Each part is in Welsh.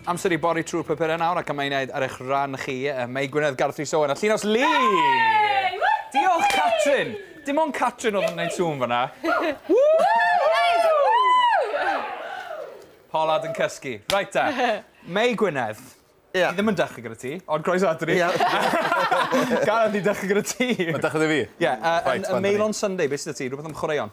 Amser i bori trwy'r papurau nawr ac am ei wneud ar eich rhan chi, mae Gwynedd Garth Rhys Owen a Llinos Lee! Diolch, Catrin! Dim ond Catrin oedd yn gwneud sŵn fanna. Polad yn cysgu. Reit ta. Mei Gwynedd. Ie. Ni ddim yn dechrau gyda ti, ond croeso ato ni. Ie. Gareth, ni'n dechrau gyda ti. Mae'n dechrau gyda fi? Ie. Yn Mail on Sunday, beth sydd 'da ti? Rhywbeth am chwaraeon?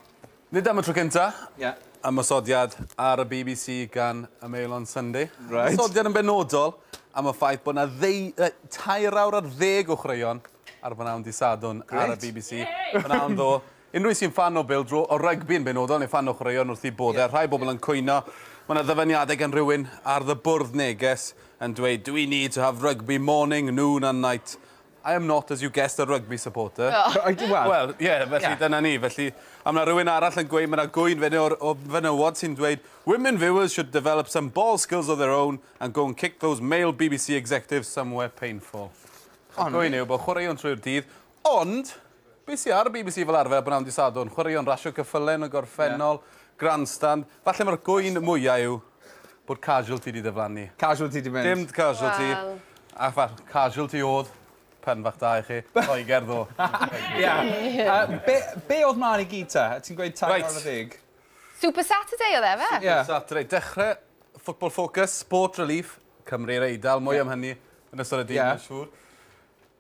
Nid am y tro cynta'... Ie. ...ymosodiad ar y bbc gan y Mail on Sunday. Reit. Ymosodiad yn benodol am y ffaith bod 'na ddeu- yy tair awr ar ddeg o chwaraeon ar bnawn dy' Sadwrn ar y bbc. Grêt! Pnawn ddo. Unrhyw sy'n ffan o bêl-dro, o rygbi yn benodol, neu ffan o chwaraeon wrth eu boddau. Rhai bobl yn cwyno. Ma' 'na ddyfaniadau gan rywun ar The Bwrdd neges yn dweud, Do we need to have rugby morning, noon and night? I am not, as you guessed, a rugby supporter. Wel, ie, felly dyna ni. Felly, a mae 'na rywun arall yn gweud, mae 'na gŵyn fyny o'r fenywod sy'n dweud Women viewers should develop some ball skills of their own and go and kick those male bbc executives somewhere painful. Y gŵyn yw bod chwaraeon trwy'r dydd, ond... Be sy ar y bbc fel arfer bnawn dy Sadwrn? Chwaraeon rasio cyffyle yn y gorffennol, grandstand. Falle mae'r gŵyn mwya yw bod Casualty 'di diflannu. Casualty 'di mynd. Dim Casualty. Wel. A fal, Casualty o'dd. Pen bach da i chi. Lloegr ddo. Ia. A be' be' o'dd mlan i gyd ta? Ti'n gweud tair awr ar ddeg? Reit. Super Saturday o'dd e yfe? Super Saturday. Dechre Football Focus, Sport Relief, Cymru'r Eidal, mwy am hynny yn ystod y dydd mae'n siŵr.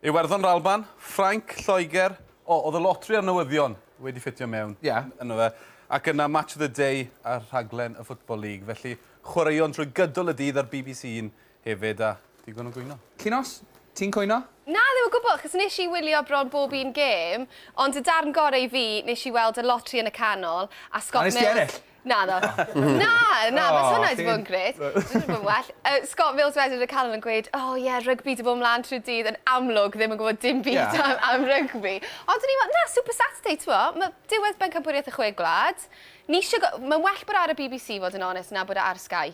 Iwerddon r'Alban, Ffrainc, Lloegr. O, o'dd y lotri a'r newyddion wedi ffitio mewn... Ie. ...yno fe. Ac yna Match of the Day ar rhaglen y Football League. Felly, chwaraeon trwy gydol y dydd ar bbc One hefyd, a digon o gwyno. Llinos, ti'n cwyno? Na, ddim o gwbwl, achos nesh i wylio bron bob un gêm, ond y darn gore i fi, nesh i weld y lotri yn y canol, a Scott Mills... A nes di ennill? Naddo. Na! Na, fysa hwnna 'di bod yn grêt. Bysa hwnna 'di bod yn well. Yy Scott Mills wedyn yn y canol yn gweud O ie, rygbi 'di bod mlan trwy'r dydd, yn amlwg ddim yn gwybod dim byd... Ie. ...am am rygbi. Ond o'n i fel, na, Super Saturday, t'mod, ma' diwedd Bencampwriaeth y Chwe Gwlad, ni isio go- Mae'n well bod o ar y bbc, i fod yn onest, na bod o ar Sky.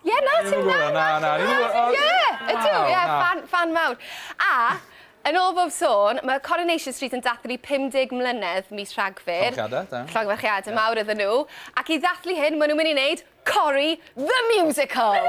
Ie, na, ti'n gwybod hwnna, na, na, ti'n gwybod hwnna. Ie, ydw, ie, fan, fan mawr. A, yn ôl bob sôn, mae Coronation Street yn dathlu 50 mlynedd mis Rhagfyr. Llongyfarchiadau, da. Llongyfarchiadau mawr iddyn nhw. Ac i ddathlu hyn, maen nhw'n mynd i wneud Cori the Musical.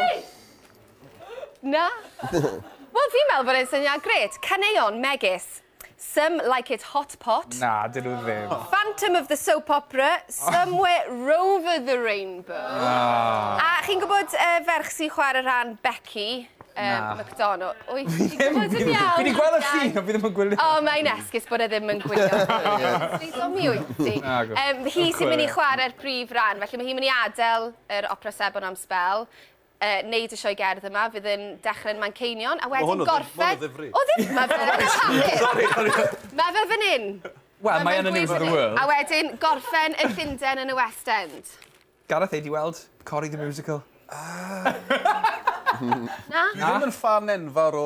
Na? Wel, fi'n meddwl bod e'n syniad gret. Caneuon megis Some like it hot pot. Na, dyn nhw ddim. Phantom of the Soap Opera, Somewhere Rover the Rainbow. A chi'n gwybod y ferch sy'n chwarae rhan Becky? Na. McDonald. Wyt ti'n gwybod yn iawn? Fi 'di gweld y llun ond fi ddim yn gwylio. O, mae'n esgus bod e ddim yn gwylio. Sut omi wyt ti? Hi sy'n mynd i chwarae'r prif ran, felly mae hi'n mynd i adael yr Opera Sebon am sbel. yy neud y sioe gerdd yma fydd yn dechre'n Manceinion a wedyn gorffen... Ma' hwn yn ddifri. O ddim! Ma' fe yn y papur. Sori sori. Ma' fe fyn 'yn. Wel mae yn y News of the World. A wedyn gorffen yn Llunden yn y West End. Gareth ei di weld Cory the Musical? Yy. Na? Dwi ddim yn ffan enfawr o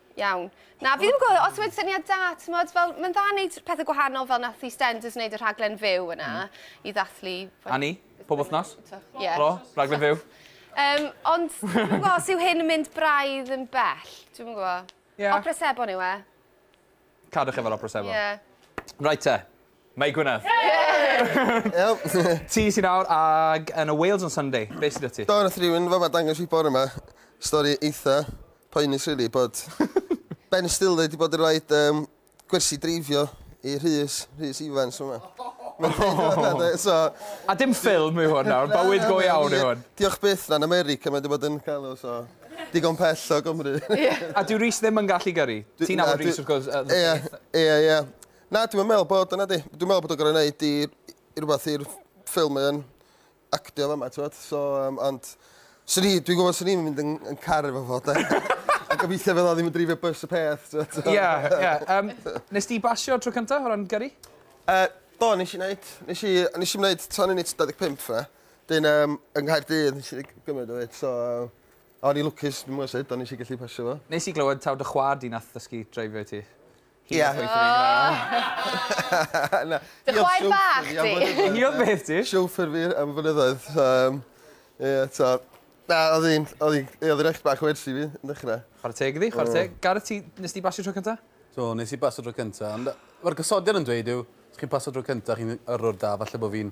Iawn. Na, fi ddim yn gwybod os mae'n syniad da, tymod, fel, mae'n dda wneud pethau gwahanol fel nath i Stenders wneud y rhaglen fyw yna hmm. i ddathlu... Annie, pob wythnos? Ie. Bro, rhaglen fyw. Um, ond, dwi'n gwybod os yw hyn yn mynd braidd yn bell, dwi'n gwybod. Yeah. Opera Sebon yw e. Cadwch efo'r Opera Sebon. Ie. Yeah. Right te. Mae Gwynedd. Ti sy'n awr ag yn y Wales on Sunday. Be sy 'da ti? Do nath rywun fama dangos fi bore 'ma stori eitha poenus rili bod Ben Stiller 'di bod yn roid yym gwersi dreifio i Rhys, Rhys Ifans fama. So... A dim ffilm yw hwn nawr, bywyd go iawn yw hwn. Diolch byth na'n America mae 'di bod yn galw so digon pell o Gymru. A dyw Rhys ddim yn gallu gyrru? Ti'n nabod Rhys wrth gwrs yy... Ie ie ie. Na dwi'm yn meddwl bod o nadi? Dwi'n meddwl bod o'n gor'o' neud i i rwbath i'r ffilm mae o'n actio fama t'mod so yym ond swn i dwi'n gwbo swn i'm yn mynd yn yn car efo fo 'de? A gobeithio fydd o ddim yn dreifio bys y peth t'mod so... Ie ie yym nes di basio tro cynta o ran gyrru? Yy do nesh i neud nesh i nesh i'm neud tan unit dau deg pump 'na 'dyn yym yng Nghaerdydd nesh i gymyd o 'fyd so o'n i lwcus dw'm yn gwbo sud on' nesh i gellu pasio fo. Nes i glywed taw dy chwa'r di nath ddysgu dreifio i ti. Hi a chwaith fi. Dy chwaer bach di? Hi oedd beth ti? Chauffeur fi am flynyddoedd. Yym ie t'o' na odd 'i'n odd 'i ie odd 'i'n eych bach o ersi fi yn dechre. Chware teg iddi chware teg. Gareth ti nes di basio tro cynta? Do nes i basio tro cynta ond yy ma'r gosodiad yn dweud yw os chi'n pasio tro cynta chi'n yrrwr da falle bo' fi'n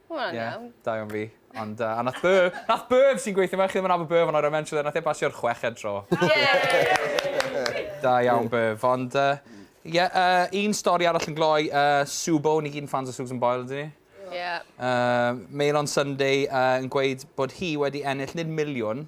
Mae hwnna'n iawn. Ie, da iawn fi. Ond yy, a nath Byrb, nath Byrb sy'n gweithio 'ma, chi ddim yn nabod Byrb ond oedd e'n mention 'fyd, nath e pasio'r chweched tro. Da iawn Byrb, ond yy, ie, yy, un stori arall yn gloi, yy, Subo, ni gyd yn ffans o Susan Boyle, ydyn ni? Ie. Yy, Mail on Sunday yy yn gweud bod hi wedi ennill, nid miliwn,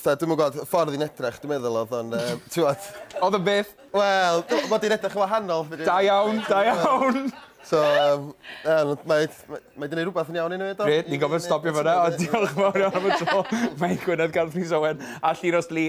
Fatha, dwi'm yn gwybod, y ffordd i'n edrych, dwi'n meddwl, oedd o'n, um, tiwod... Oedd o'n beth? Wel, mae di'n edrych yn wahanol. Da iawn, da iawn! So, um, um, mae, mae, mae di'n ei rhywbeth yn iawn i ni, do? Gret, ni'n gofyn stopio fyna, ond diolch yn fawr iawn am y tro. Mae'n Gwynedd Garth Rhys Owen a Llinos Lee.